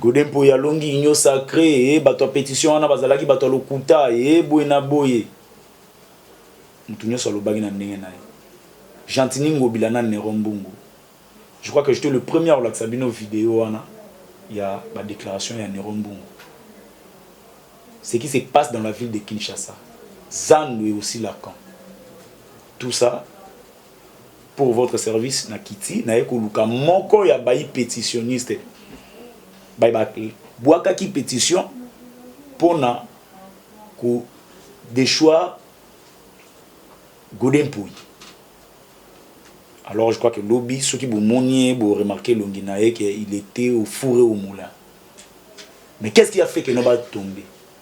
Gode Mpoyi alongi union sacree ee, bato ya petition wana bazalaki bato ya lokuta ee, boye na boye. Moto nyonso alobaki na ndenge na ye. Gentiny Ngobila na Neron Mbungu, je crois que j'etais le premier kolakisa bino video wana ya ba declaration ya Neron Mbungu. Ce qui se passe dans la ville de Kinshasa, Zando et aussi Lacan. Tout ça Pour votre service na kiti naye koluka moko ya bayi petitionnistes baye ba bwakaki petition pona ko dechoir Gode Mpuyi. Alors je crois que lobi soki bo moni ye bo remarquer elongi naye que il etait au four et au moulin. Mais qu'est-ce qui a fait que no ba tomber?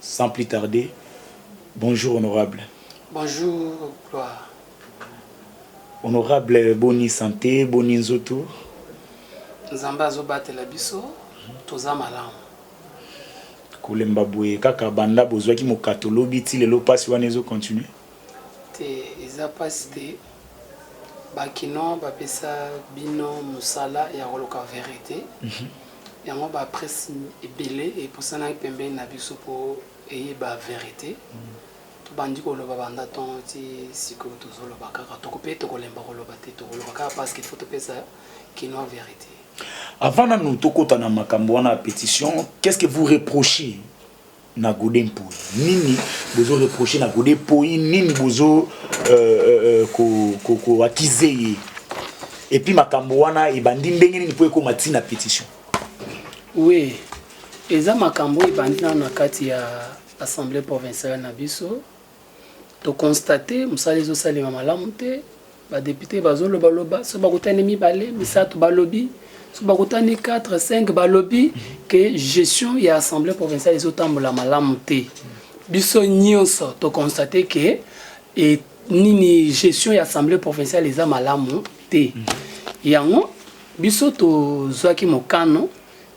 Sans plus tarder, bonjour honorable. Bonjour Gloire. Honorable, boni sante, boni nzoto? Nzambe azobatela biso, toza malamu. kolemba boye kaka banda bozwaki mokato lobi ti lelo mpasi wana ezo continue te eza mpasi te bakino bapesa bino mosala ya koluka verite mhm. Yango ba presse ebele epusanaki pembeni na biso po eyeba verite. Tobandi koloba banda tongo ti sikoyo tozoloba kaka toko pe tokolemba koloba te tokoloba kaka parce qu'il faut topesa kinois verite. Avant nanu tokota na makambo wana ya petition, qu'est-ce que vous reprochez na gode mpoyi nini bozo reproche na gode mpoyi nini bozo euh, euh, koakize ko, ko ye epuis makambo wana ebandi ndenge nini mpo ekoma ti na petition oui eza makambo ebandi nano na kati ya assemblée provinciale na biso To constate musala ezo salema malamu te. Ba depute bazo loba loba so bakutani mibale misato balobi so bakutani 4 5 balobi ke gestion ya assemblée provinciale ezo tambola malamu te. Biso nyonso to constate ke et nini gestion ya assemblée provinciale eza malamu te. Yango biso tozwaki mokano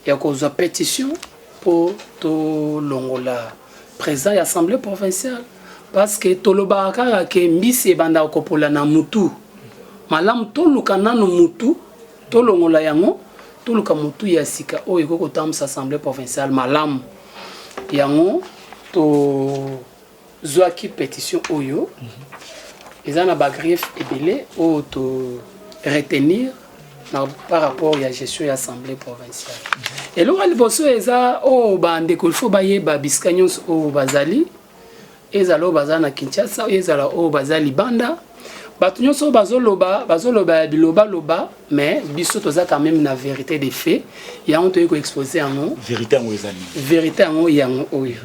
ya kozwa petition mpo tolongola president ya assemblée provinciale parce que tolobaka kaka ke mbisi ebandaka kopola na mutu malamu toluka nano mutu tolongola yango toluka mutu ya sika oyo ekoki kotambwisa assemblée provinciale malamu yango to zuaki petition oyo eza na ba griefs ebele oyo to retenir na par rapport ya gestion ya assemblée provinciale eloko ya liboso eza oyo oh, bandeko ilfo bayeba bisika nyonso oyo oh, bazali ezala oyo oh, baza na kinshasa ezala oyo baza libanda bato nyonso oyo bazoloba bazoloba ya bilobaloba mais biso toza quand même na vérité de fait yango toyei koexpose yango vérité yango yango oyo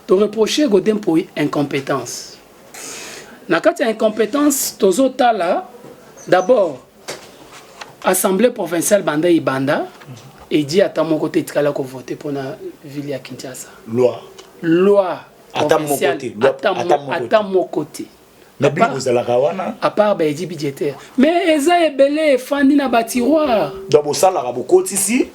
To reprocher Gode Mpoyi incompetence. Na kati ya incompetence tozo tala d'abord assemblée provinciale banda ibanda edi ata moko te etikala ko voter pona ville ya Kinshasa. Loi. Loi. Ata moko te. Ata moko te. mais bino bozalaka wana à part ba edi budgétaire mais eza ebele efandi na ba tiroir donc bosalaka bokotisi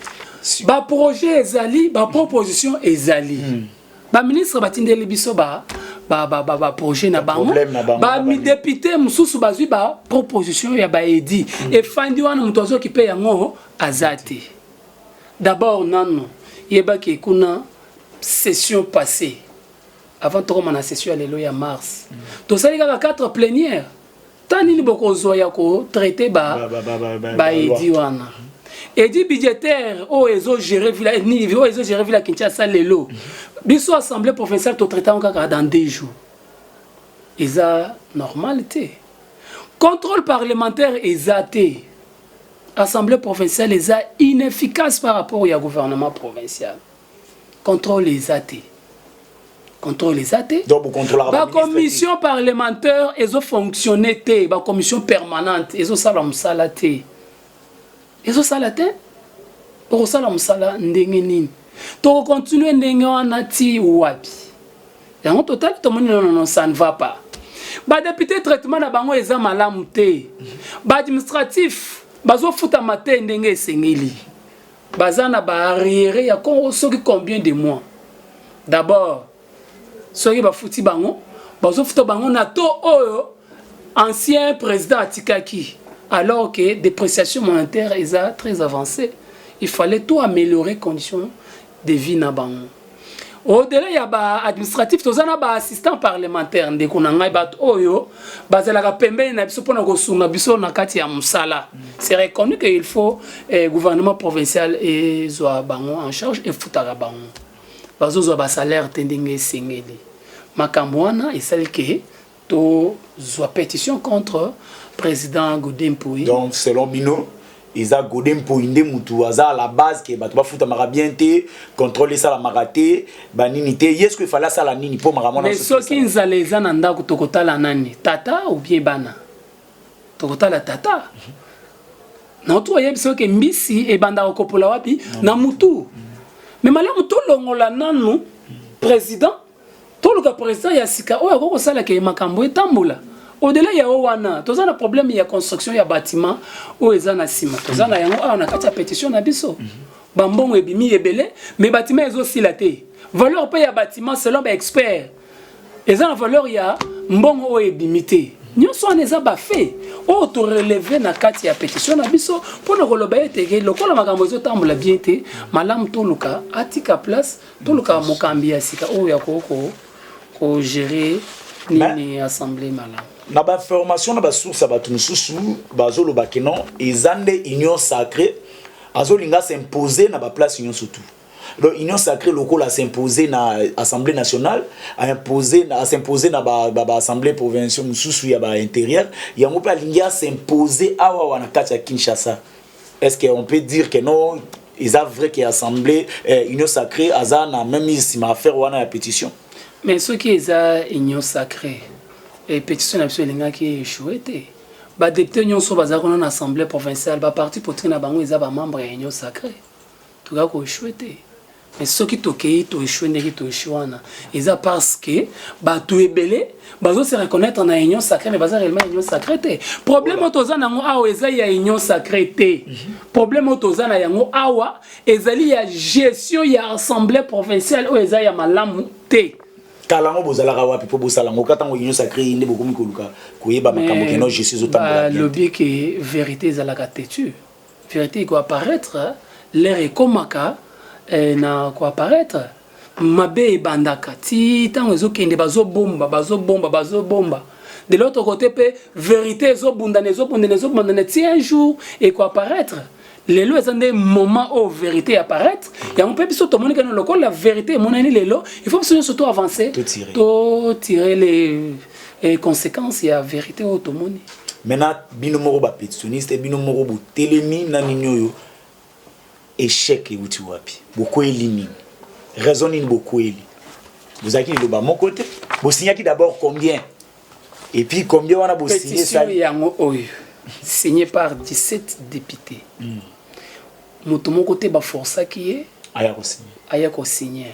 ba projet ezali ba proposition ezali hmm. ba ministre batindeli biso ba ba ba ba, ba projet na bango ba mi député mosusu bazwi ba proposition ya ba edi hmm. efandi wana moto azokipe yango aza te d'abord nano yebaki kuna session passée Avant tokoma na session ya lelo ya mars, tosali kaka 4 plenière. Ta nini bokozwa ya ko traiter ba ba edi wana? Edi budgétaire oyo ezo gérer villa nini oyo ezo gérer villa Kinshasa lelo. Biso assemblée provinciale to traiter kaka dans 2 jours. Eza normal te. Contrôle parlementaire eza te. Assemblée provinciale eza inefficace par rapport au gouvernement provincial. controle eza te contrôle eza te bacommission parlementaire ezo fonctionne te bacommission permanente ezosala mosala te ezosala te okosala mosala ndenge nini tokocontinue ndenge wana ti wapi yango totali tomoni nonono ça ne va pas badepute traitement na bango eza malamu te baadministratif bazofutama te ndenge esengeli Baza na ba arriere ya Congo soki combien de mois? D'abord soki bafuti bango bazofuta bango na to oyo ancien président atikaki alors que dépréciation monétaire eza très avancée il fallait tout améliorer condition de vie na bango au-delà ya ba administratif toza na ba assistant parlementaire ndeko na ngai bato oyo bazalaka pembeni na biso mpona kosunga biso na kati ya mosala c'est reconnu que il faut eh, gouvernement provincial ezwa bango en charge efutaka bango bazozwa basalaire te ndenge esengeli makambo wana esali ke To zwa petition contre president Godin Mpuyi. Donc selon bino eza gode mpoi nde mutu aza à la base ke bato bafutamaka bien te contrôle esalamaka te banini te ye ceque efale asala nini mpo makambo wana soki nzala eza na ndako tokotala nani tata ou bien bana tokotala tata naotu oyebi soki mbisi ebandaka kopola wapi na mutu me malamu tolongola nanu président Toluka president ya sika oyo akoki kosala ke makambo etambola. Au-delà ya oyo wana, toza na problème ya construction ya bâtiment oyo eza na sima. Toza na yango awa na kati ya petition na biso. Ba mbongo ebimi ebele, mais bâtiment ezo sila te. Valeur pe ya bâtiment selon ba experts eza na valeur ya mbongo oyo ebimi te. Nyonso wana eza ba faits oyo to relever na kati ya petition na biso mpo na koloba ete lokola makambo ezo tambola bien te, malamu toluka atika place toluka mokambi ya sika oyo akoki kogere nini assemble malamu na bainformation na basource ya bato mosusu bazoloba ke non eza nde union sacré azolinga s'impose na baplace nyonso tout donc union sacré lokola s'impose na assemblée nationale as'impose na baassemblée ba, ba provinciaux mosusu ya baintérieur yango mpe alingi as'impose awawa na kati ya kinshasa Est-ce qu'on peut dire que non, ils a vrai que assemblée euh, union sacrée aza na même ici ma affaire wana ya pétition. Mais ce qui est à union sacrée et pétition na biso elingaki échouer te. Ba députés nyonso baza kuna na assemblée provinciale, ba parti politique na bango eza ba membres ya union sacrée. Tuka ko échouer te. Mais soki tokeyi to echoue ndenge to echoue wana eza parce que bato ebele bazo se reconnaître na union sacrée mais baza réellement union sacrée te problème oyo toza na yango awa eza ya union sacrée te problème oyo toza na yango awa ezali ya gestion ya assemblée provinciale oyo eza ya malamu te kala yango bozalaka wapi mpo bosala yango ka ntango union sacrée ye nde bokomi koluka koyeba makambo keno gestion ezotambola lobi ke vérité ezalaka têtue Verite eko apparaître, l'heure ekomaka eh, na ko apparaître. Mabe ebandaka ti tango ezo kende bazo bomba, bazo bomba, bazo bomba. De l'autre côté pe verite ezo bundana, ezo bundana, ezo bundana ti un jour eko apparaître. lelo eza nde moment oyo verité ya paraître yango mpe biso tomoni kani lokola verité emonani lelo il faut biso nyonso to avancer to tire le Et conséquence ya vérité oyo tomoni. Maintenant bino moko ba petitioniste bino moko botelemi na nini oyo échec euti wapi bokweli nini raison nini bokweli bozalaki liloba moko te bosignaki d'abord combien et puis combien wana bosignepetition yango oyo signé par 17 député hmm. moto moko te baforsaki ye aya kosigne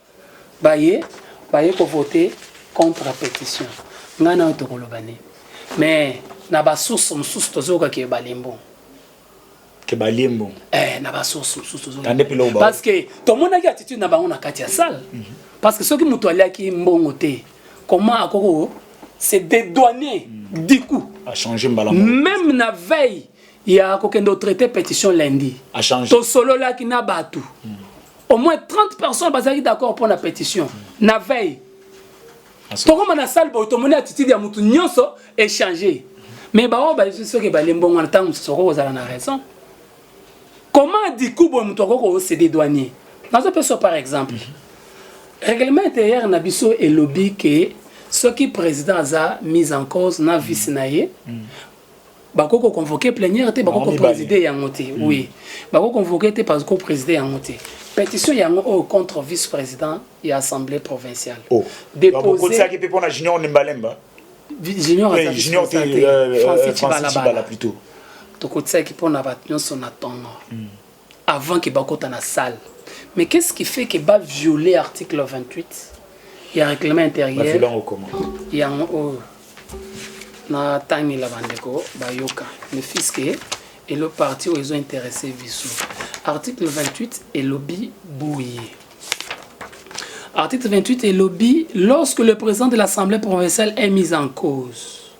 Baye baye ko vote contre petition nga nayo tokoloba nini mais na ba source mosusu tozoyoka ke balembo ke balembo eh na ba source mosusu tozoyoka parce que tomonaki attitude na bango na kati ya salle mm -hmm. parce que soki moto aliaki mbongo te comment akoko se dédouaner mm -hmm. du coup a changer mbala même na veille ya kokende otraite petition lundi tosololaki na bato mm. au moins 30 personnes bazalaki d'accord mpo na petition mm. na veille tokoma na salle boye tomoni attitude ya motu nyonso échange mais baoyo bazwi soki ebale mbongo wana ntango mosusu okoki kozala na raison comment diku boye moto akoki koosede douanier nazopesa par exemple mm-hmm. règlement intérieur na biso elobi ke soki président aza mise en cause na vice na ye mm. bako ko convoquer plénière te bako ko présider yango te hmm. oui bako convoquer te parce ko présider yango te pétition yango oyo contre vice président ya assemblée provinciale oh. déposaki mpe mpo na junior nimbalemba junior junior te euh, euh, francis cibalabala plutôt tokotisaki mpo na bato nyonso na ntongo hmm. avant que bakota na salle mais qu'est ce qui fait que ba violer article 28 ya règlement intérieur yango oyo natangela bandeko bayoka mais fiske elo parti oyo ezo interesse biso article 28 elobi boye article 28 elobi lorsque le président de l'assemblée provinciale est mis en cause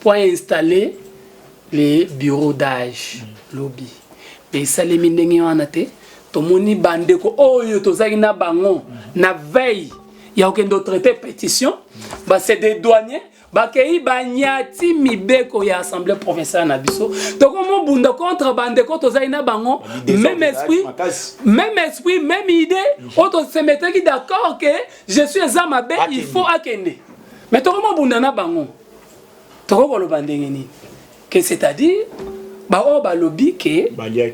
Mpo a installer le bureau d'age lobi mais esalemi ndenge wana te tomoni ba ndeko oyo tozalaki na bango na veille ya kokende o traiter petition ba se dedouanier bakei banyati mibeko ya assemblée provinciale na biso tokomi obunda contre bandeko tozali na bango même esprit même esprit même idée oyo tosemetaki d'accord que je suis eza mabe il faut akende me tokomi obunda na bango tokoki koloba ndenge nini ke c'est-à-dire baoyo balobi ke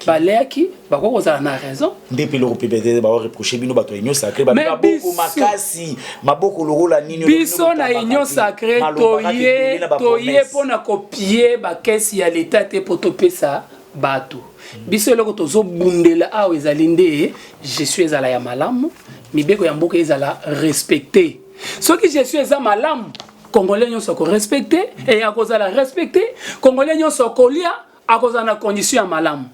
baleaki bakoki kozala na raison nde mpe eloko mpe baoreproche bino bato ya union sacré maboko makasi maboko lokola nini biso na union sacré toye toye mpo na kopie bakesi ya leta te mpo topesa bato biso eloko tozobundela awa ezali nde gestion ezala ya malamu mibeko ya mboka ezala respecte soki gestion eza malamu congolais nyonso akorespecte e akozala respecte congolais nyonso akolia akozala na condition ya malamu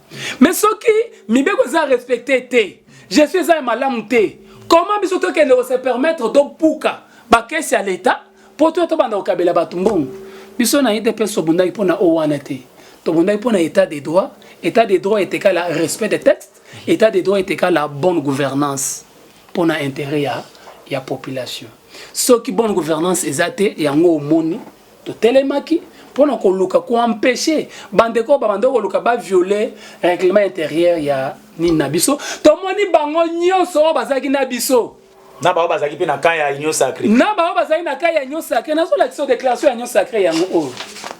mais soki mibeko eza respecte te gestion eza ya malamu te comment biso tokende kose permettre tobuka bakesi ya leta mpo to tobanda kokabela bato mbongo biso na idps tobundaki mpo na o wana te tobundaki mpo na état de droit état de droit etekala respect des textes état de droit etekala bonne gouvernance pona interet ya ya population soki bonne gouvernance eza te yango omoni totelemaki pona koluka ko empêcher bandeko babanda koluka ba violer règlement intérieur ya nini na biso tomoni bango nyonso oyo bazalaki na biso na baoyo bazalaki mpe na kai ya union sacré na baoyo bazalaki na kai ya union sacré nazolakisa déclaration ya union sacré yango oyo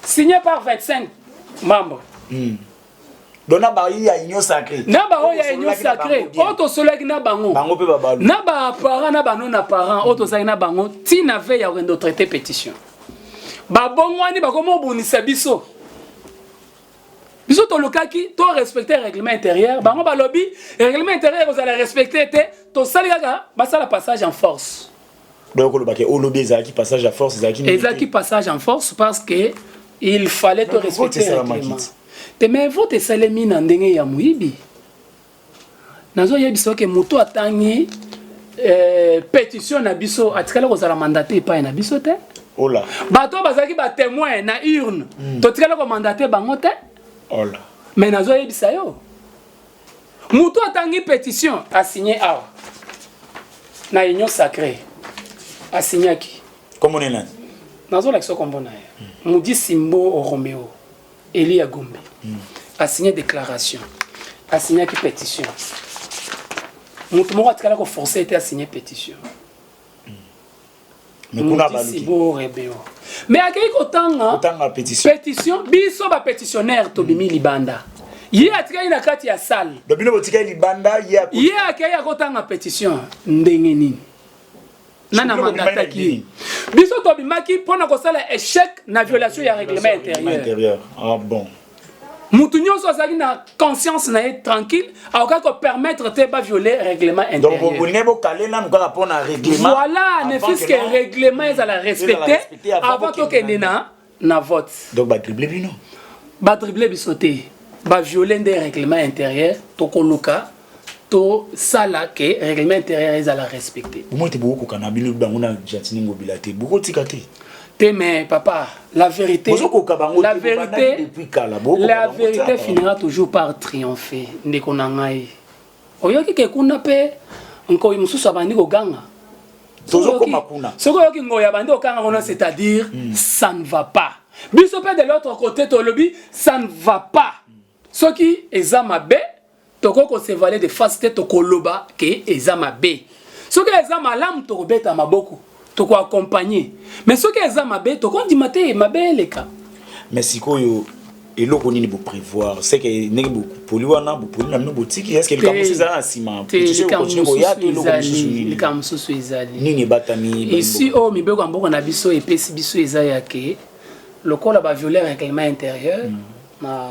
signe par 25 membre mm. donc na bayi ya union sacré na baoyo ya union sacré oyo tosolaki na bango bango mpe babalu na baparent na bano na parent oyo tozalaki na bango ntina ve ya kokende traité pétition babongwani bakomi obundisa biso biso tolukaki to respecte règlement intérieur bango balobi règlement intérieur ekozala respecte te tosali kaka basala passage en force donc oloba ke olobi ezalaki passage ya force ezalaki ezalaki passage en force parce que il fallait to respecter règlement te mais vote esalemi na ndenge ya moyibi nazoyebisa oke moto atangi eh, pétition na biso atikala kozala mandate epai na biso te ola bato oyo bazalaki batémoin na urne mm. totikala komandate bango te ola mais nazoyebisa yo Mutu atangi petition a signé awa na union sacrée a signaki. Kombo na nani? Nazo lakisa kombo na ye. Hmm. Mudi Simbo Romeo Elia Gombe hmm. a signé déclaration a signaki petition. Mutu moko atikala ko forcer ete a signé petition. mais kuna abaluki mais akei kotanga pétition biso bapétitionnaire tobimi mm. libanda ye atikali na kati ya salle bino botikali libanda ye akei akotanga pétition ndenge nini nana mandataki ye biso tobimaki mpo na kosala échec na violation ya règlement intérieur ah, bon. mutu nyonso azali na conscience na ye tranquille akokaki kopermettre te baviole règlement intérieur bokale nanu kaka mpo na règlement voilà ne fils que règlement ezala respecté avant tokende na na vote donc badrible bino badrible biso te baviole nde règlement intérieur tokoluka tosala ke règlement intérieur ezala respecté bomoi te bokokoka na bino bango na gentini ngobila te bokotika te te mais papa la vérité bozokoka bango la vérité depuis kala la vérité finira toujours par triompher ndeko na ngai oyoki ke kuna mpe nkoi mosusu abandi koganga tozokoma kuna soki oyoki ngoi abandi kokanga kuna c'est à dire hmm. ça ne va pas biso mpe de l'autre côté tolobi ça ne va pas soki eza mabe Toko ko se valer de face te tokoloba ke eza mabe. Soki eza malamu toko beta maboko toko accompagner mais soki eza mabe toko ndima te mabe eleka. Mais sikoyo eloko nini bo prevoir seke ndenge bopoli wana bopoli na bino botiki eske likambo mosusu ezala na nsima likambo mosusu ezali nini ebatami esi oyo mibeko ya mboka na biso epesi biso eza yake lokola baviole reglement intérieur hmm. na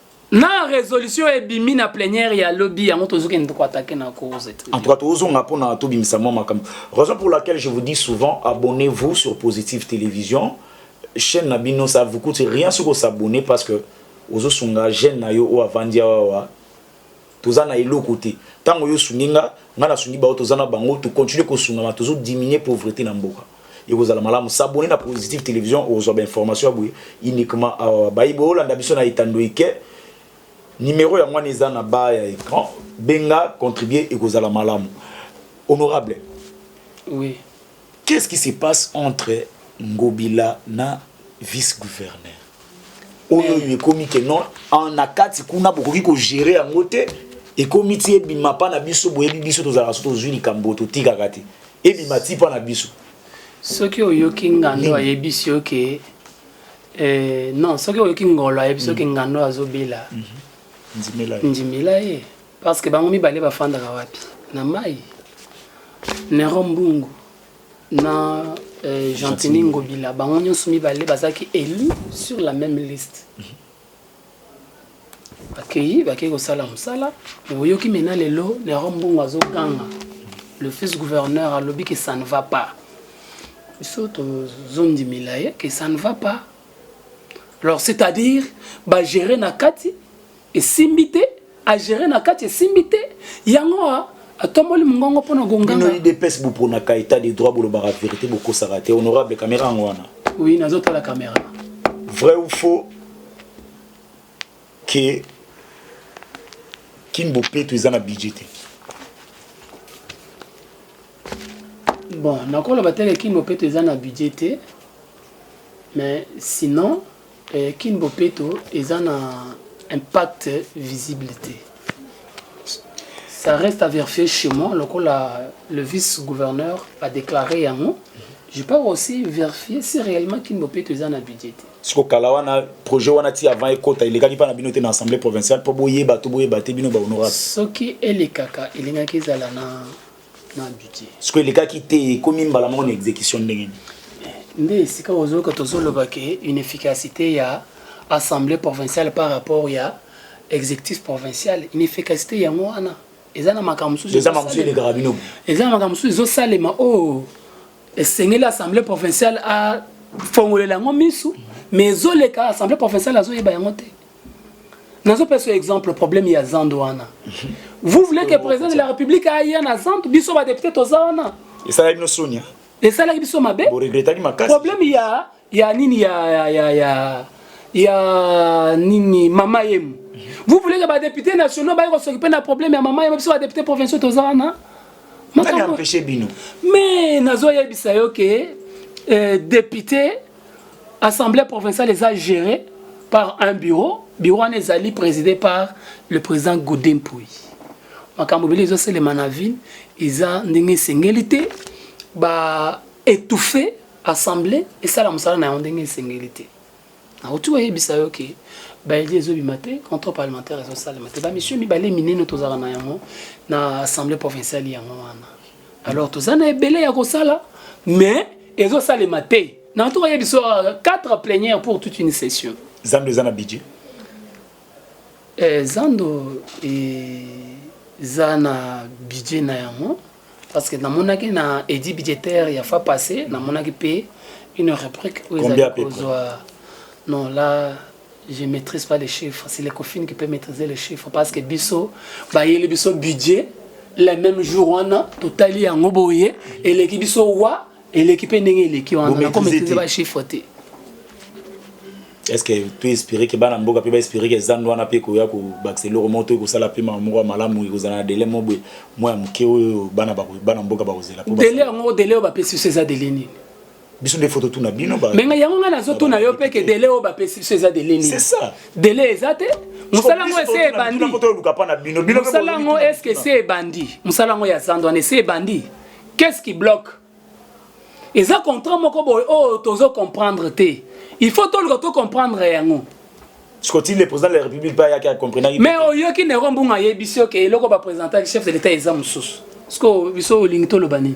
na resolution ebimi na plenière ya lobi yango tozokende koatake na cause en tout cas tozonga mpona tobimisa mwa makambo raison pour laquelle je vous dis souvent abonnez vous sur positive télévision chaîne na bino ça vous coûte rien soki osabonne parce que ozosunga jeune na yo oyo avandi awawa toza na eloko te tango yo osungi nga nga na sungi bao toza na bango to continue kosungama tozo diminuer pauvrete na mboka ekozala malamu s'abonner na positive television okozwa ba information ya boye uniquement awa bayi boyolanda biso na etando ike numero yango wana eza na ba ya ecran benga contribuer ekozala malamu honorable oui Qu'est ce qui se passe entre ngobila na vice gouverneur oyo oyo ekomi ke non na kati kuna bokoki kogere yango te ekomi ti ebima mpa na biso boyebi biso tozalaka so tozwi likambo totikaka te ebima ti mpa na biso soki oyoki ngando ayebisi yo ke eh, non soki oyoki ngolo ayebisi yo ke mhm. ngando azobela mhm. ndimela ye Parce que bango mibale bafandaka wapi? Na mai. Nero Mbungu na euh, Gentini Ngobila bango nyonso mibale bazalaki élu sur la même liste. Bakei bakei kosala mosala me oyoki mena lelo Nero Mbungu azoganga le fils gouverneur alobi que ça ne va pas. Biso tozondimela ye que ça ne va pas. Alors c'est-à-dire bagere na kati Esimbi te, a gerer na kati esimbi te, yango a atomboli mungongo mpo na gonganga. Bino UDPS bo pronaka etat de droit bolobaka verite bokosaka te honorable camera yango wana. Oui nazo tala camera. Vrai ou faux que Kin Bopeto eza na budget te. Bon nakoloba te que Kin Bopeto eza na budget te mais sinon Kin bopeto eza na impact visible te ça reste à verifier chez moi lokola le vice gouverneur a déclaré yango je peux aussi vérifier si réellement kin bopeto eza na budget te siko kala wana projet wana ti avant ekota elekaki mpa na bino te na assemblée provinciale mpo boyeba to boyeba te bino bahonorable soki elekaka elingaki ezala na sikoyo elekaki te ekomi mbala moko na exécution ndenge nini nde esika ozoyoka tozoloba ke une efficacité ya assemblée provinciale par rapport ya exécutif provincial une efficacité yango wana eza na makambo mosusu eza na makambo mosusu ezosalema oyo oh, esengeli assemblée provinciale afongolela yango misu mais ezoleka assemblée provinciale azoyeba yango te nazo pesa exemple problème ya zande wana vous voulez que président de la république aya na zande biso ba député toza wana esalaki bino sonia esalaki biso mabe boregretaki makasi problème ya ya nini ya ya ya ya, ya nini mama yemu vous voulez que ba député nationaux baye kosokipe na problème ya mama yemu biso ba député provinciaux toza wana makambo empêcher bino mais nazo yebisa yo ke euh, député Assemblée provinciale eza gérée par un bureau. Bureau wana ezali présidé par le président Godin Mpuy. Makambo ebele ezoselema na ville eza ndenge esengeli te ba étouffer assemblée esala mosala na yango ndenge esengeli te. Nauti koyebisa yo ke baeli ezobima te contrôle parlementaire ezosalema te bamisio mibale minene tozalaka na yango na assemblée provinciale yango wana alors toza na ebele ya kosala mais ezosalema te na ntuka ye biso 4 plenière pour toute une session zando eza na budget eh, zando eza na budget na yango parce que namonaki na edi budgétaire ya fa passé namonaki mpe une rubrique oyo ezali kozwa non la je maîtrise pas les chiffres c'est les coffines qui peut maîtriser les chiffres parce que biso bayeli biso budget le même jour wana totali yango boye eleki biso wa eleki mpe ndenge eleki wana nakomaîtrise bachiffre te est-ce que tu espérer que bana mboka mpe baespérer que ezando wana mpe ekoya kobakisa eloko moko to ekosala mpe mama moko ya malamu ekozala na dele moko boye mwa ya moke oyo bana mboka bakozela dele yango dele oyo bapesi biso eza dele nini biso nde foto tuna bino ba mais yango nga nazo tuna yo pe ke délai oyo bapesi biso eza délai nini c'est ça délai eza te mosala yango ese ebandi mosala yango eske ese ebandi mosala yango ya zando wana ese ebandi qu'est-ce qui bloque eza contrat moko boye oyo oh, tozo comprendre te il faut toluka to comprendre yango sikotii le président de la république mpe ayaki acomprenaki mais oyoki nero mbunga ayebisi yo ke eloko bapresentaki chef de l'état eza mosusu sikoyo biso olingi toloba nini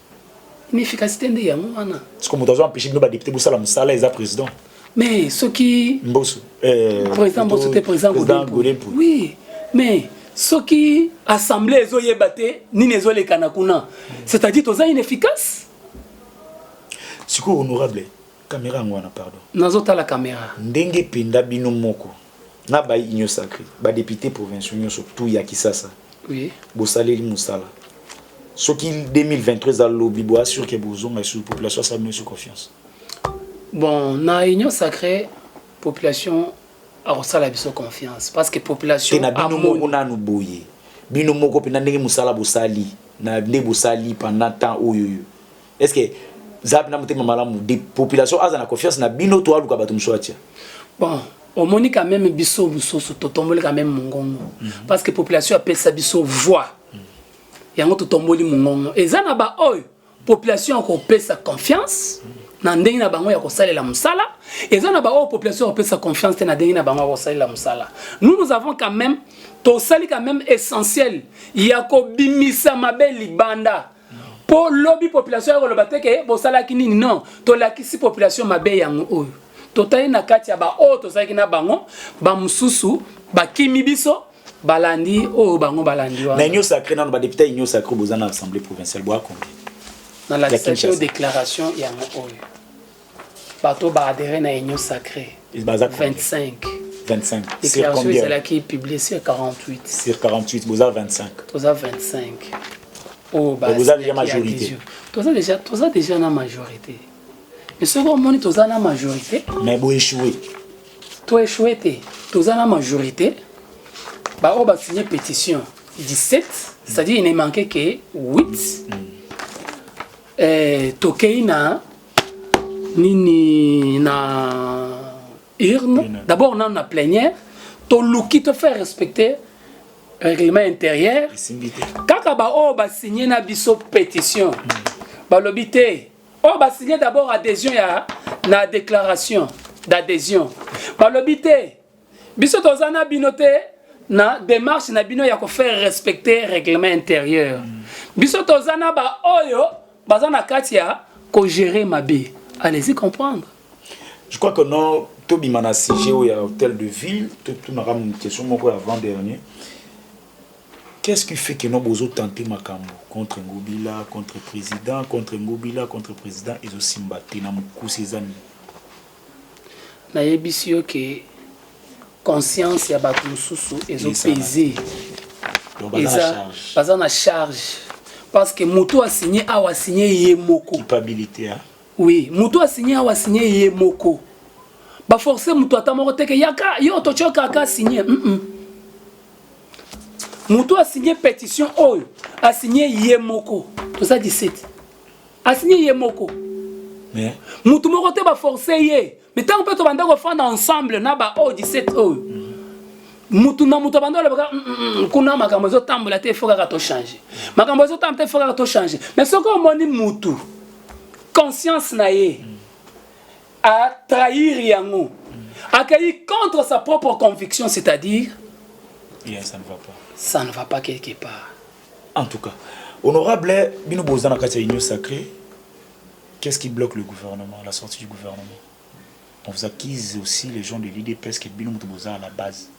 inefficacité nde yango wana siko moto azo empêche bino badepute bosala mosala eza président mais soki mboso euh, président mboso te président godempo oui mais soki assemblée ezoyeba te nini ezolekana kuna c'est-à-dire toza inefficace sikoyo honorable kamera yango wana pardon nazotala kamera ndenge mpenza bino moko na bayi Union sacree, ba deputes provinciaux nionso tout ya Kisasa, oui. bosaleli mosala soki 2023 eza lobi boa sur que bozonga lisusu population asala bino sur confiance bon na union sacrée population akosala biso confiance parce que population te na bino moko nanu boye bino moko mpenza ndenge mosala bosali na nde bosali pendant temps oyo oyo est ce que zala mpena motema malamu de population aza na confiance na bino to aluka bato mosusu atia bon omoni quand même biso mosusu totomboli quand même mongongo mm -hmm. parce que population apesa biso voix mm -hmm. yango totomboli mongongo eza na baoyo population akopesa confiance mm -hmm. na ndenge na bango ya kosalela mosala eza na baoyo population akopesa confiance te na ndenge na bango ya kosalela mosala nous nous avons quand même tosali quand même essentiel ya kobimisa mabe libanda Po lobi population yako loba te ke bosalaki nini non tolakisi population mabe yango oyo totali na kati ya ba oyo tozalaki na bango ba mususu bakimi biso balandi oyo bango balandi wana. Na union sacrée nanu ba député union sacrée boza na assemblée provinciale boa combien? Na la déclaration yango oyo. bato baadere na union sacré 25 25 sur combien ezalaki publie sur 48 sur 48 boza 25 toza 25 oyo boza déjà majorité toza déjà toza déjà na majorité mais soki omoni toza na majorité mais boéchoué toéchoué te toza na majorité baoyo basigne pétition 17 c'est-à-dire il ne manquait que 8 mm. eh, tokei na nini na urne d'abord nanu na plenière toluki tofaire respecter règlement intérieur kaka baoyo basigne na biso pétition hmm. balobi te oyo oh, basigne d'abord adhésion ya na déclaration d'adhésion balobi te Biso toza na bino te na démarche na bino ya ko faire respecter règlement intérieur. Biso toza na ba oyo baza na kati ya ko gérer mabe. Allez-y comprendre. Je crois que non tobima na sujet oyo ya hôtel de ville totunaka question moko ya avant dernier qu'est-ce qui fait que no bozotante makambo contre ngobila contre président contre ngobila contre président ezosimba te na mokuse eza nini Na yebisi yo que conscience ya batu mususu ezo peze eza baza na charge parce que mutu a signe awa a signe ye moko culpabilité hein oui mutu a signe awa a signe ye moko ba forcer mutu ata moko te que yaka yo to choka ka signe mm -mm. mutu a signe petition oyo a signe ye moko toza 17 asinye ye moko motu moko te baforce ye me ntango mpe tobanda kofanda ensemble na baoyo 17 oyo motu na motu abanda olobaka mm, mm, mm, kuna makambo ezotambola te ifo kaka tochange makambo ezotambola te ifo kaka tochange me soki omoni motu conscience na ye atrahir yango akei contre sa propre conviction c'est-à-dire ça ne va pas quelque part En tout cas, honorable, bino boza na kati ya union sacrée. Qu'est-ce qui bloque le gouvernement, la sortie du gouvernement On vous accuse aussi les gens de l'UDPS que bino moto boza à la base.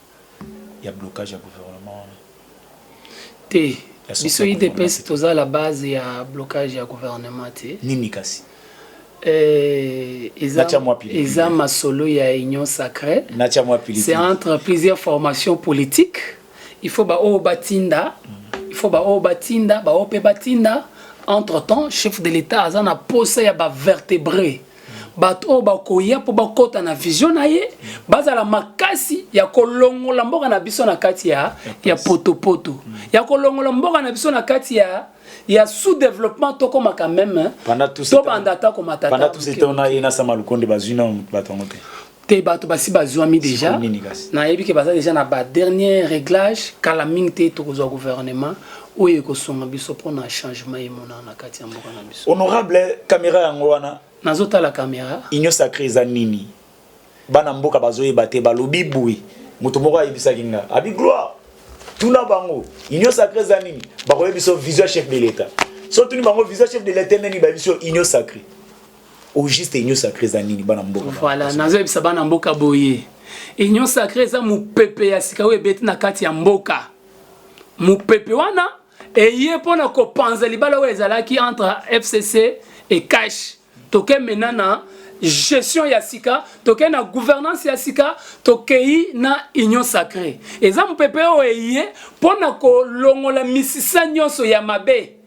Il y a blocage du gouvernement. Te, biso UDPS toza à la base il y a blocage du gouvernement te. Nini kasi eh, eza masolo ya union sacrée c'est entre plusieurs formations politiques Il faut ba oyo batinda, il faut ba oyo batinda, ba oyo pe batinda. Entre temps, chef de l'État aza na posa ya ba vertebrés. bato oyo bakoya mpo bakɔta na vision na ye bazala makasi ya kolongola mboka na biso na kati ya, ya potopoto mm. ya kolongola mboka na biso na kati ya ya sous-développement tokomaka meme tobanda ata komatapandatusetonayena sama lukonde bazwi na bato yango te te bato basi bazwami deja nayebi ke baza deja na ba dernier réglage kala mingi te tokozwa gouvernement oyo ekosonga biso mpona changement emonana na kati ya mboka na biso honorable caméra yango wana nazotala caméra union sacré eza nini bana mboka bazoyeba te balobi boye moto moko ayebisaki nga abi gloire tuna bango union sacré eza nini bakoyebi biso vision chef de l'état so tuni bango vision chef de l'état nini bayebi biso union sacré au juste union sacrée eza nini bana mboka voilà nazo yebisa bana mboka boye union sacrée eza mopepe ya sika oyo ebeti na kati ya mboka mopepe wana eye mpo na kopanza libala oyo ezalaki entre fcc et cash toke mena na gestion ya sika tokei na gouvernance ya sika tokei na union sacrée eza mopepe oyo eye mpo na kolongola misisa nyonso ya mabe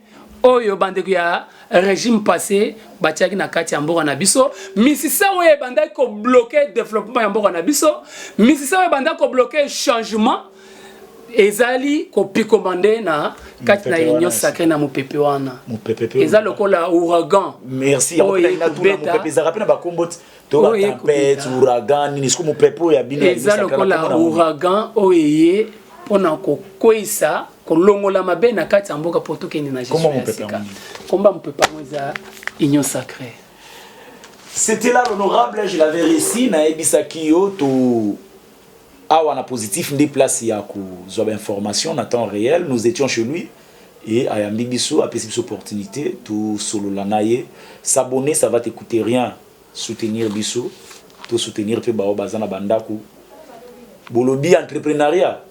oyo bandeko ya regime passé batiaki na kati ya mboka na biso misisa oyo ebandaki kobloke developpement ya mboka na biso misisa oyo ebandaki kobloke changement ezali kopikoma nde na kati na union sacré na mopepe wana eza lokola ouragan merci oyo ekobeta to ba tempete ouragan nini soki mopepe oyo ya bino eza lokola ouragan oyo eye mpo na kokweisa kolongola mabe na kati ya mboka mpo tokende na gestion ya sika komba mopepe yango eza union sacrée c'était là l'honorable je l'avais réussi nayebisaki yo to awa na positif nde place ya kozwa bainformation na temps réel nous étions chez lui et ayambi biso apesi biso opportunité tosolola na ye s'abonner ça va te coûter rien Soutenir biso to soutenir pe baoyo baza na ba ndaku bolobi entreprenariat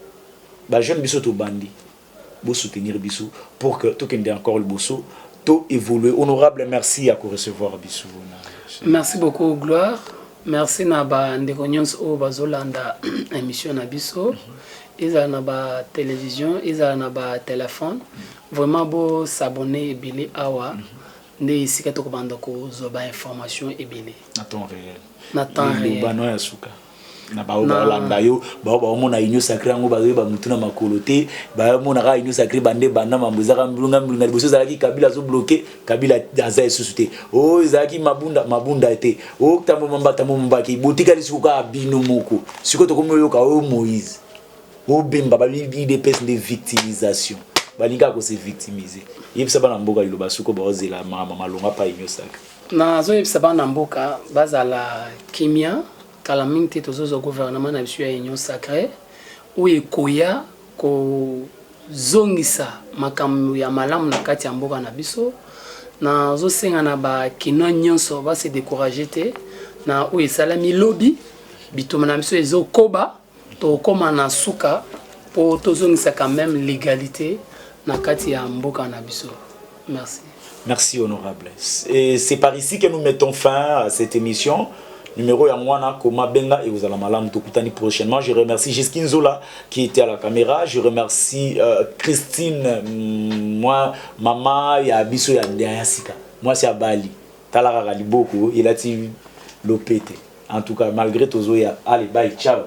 ba jeune biso tobandi bo soutenir biso pour que tokende encore liboso to evolue honorable merci ya ko recevoir biso na merci beaucoup gloire merci na ba ndeko nyonso oyo bazolanda emission na biso ezala na ba television ezala na ba telephone vraiment bo s'abonner ebele awa mm -hmm. Nde esika toko banda ko zwa ba informations ebele. Na temps reel. Na temps reel. Liloba no ya suka. na baoyo baolanda yo baoyo baomona union sacré yango bazoyeba motu na makolo te baomona kaka union sacré bande banda mambo ezaka mbilunga mbilunga liboso ezalaki kabila azobloke kabila aza esusu te o oh, ezalaki mabunda mabunda te o oh, tambo mambata mombaki botikali siko kaka bino moko siko tokomi oyoka oyo oh, moïse Bobenga ba udps nde victimisation. Balingi kaka ko se victimiser. Yebisa bana mboka liloba suko baozela makambo malonga pa Union Sacree. nazoyebisa bana mboka bazala kimia kala mingi te tozozwa gouvernement na biso ya union sacree oyo ekoya kozongisa makambo ya malamu na kati ya mboka na biso nazosenga na bakinois nyonso base decourage te na oyo esalami lobi bitumba na biso ezokoba Tokoma na suka po tozongisa quand meme legalite na kati ya mboka na biso. Merci. Merci honorable. C'est par ici que nous mettons fin à cette émission. Numéro ya mwana koma benga et vous allez malam tokutani prochainement. Je remercie Giskin Zola qui était à la caméra. Je remercie euh, Christine moi mama ya biso ya ya sika. Moi c'est Abali. Tala kaka liboko elati lopete en tout cas malgre tozoya allez bye ciao.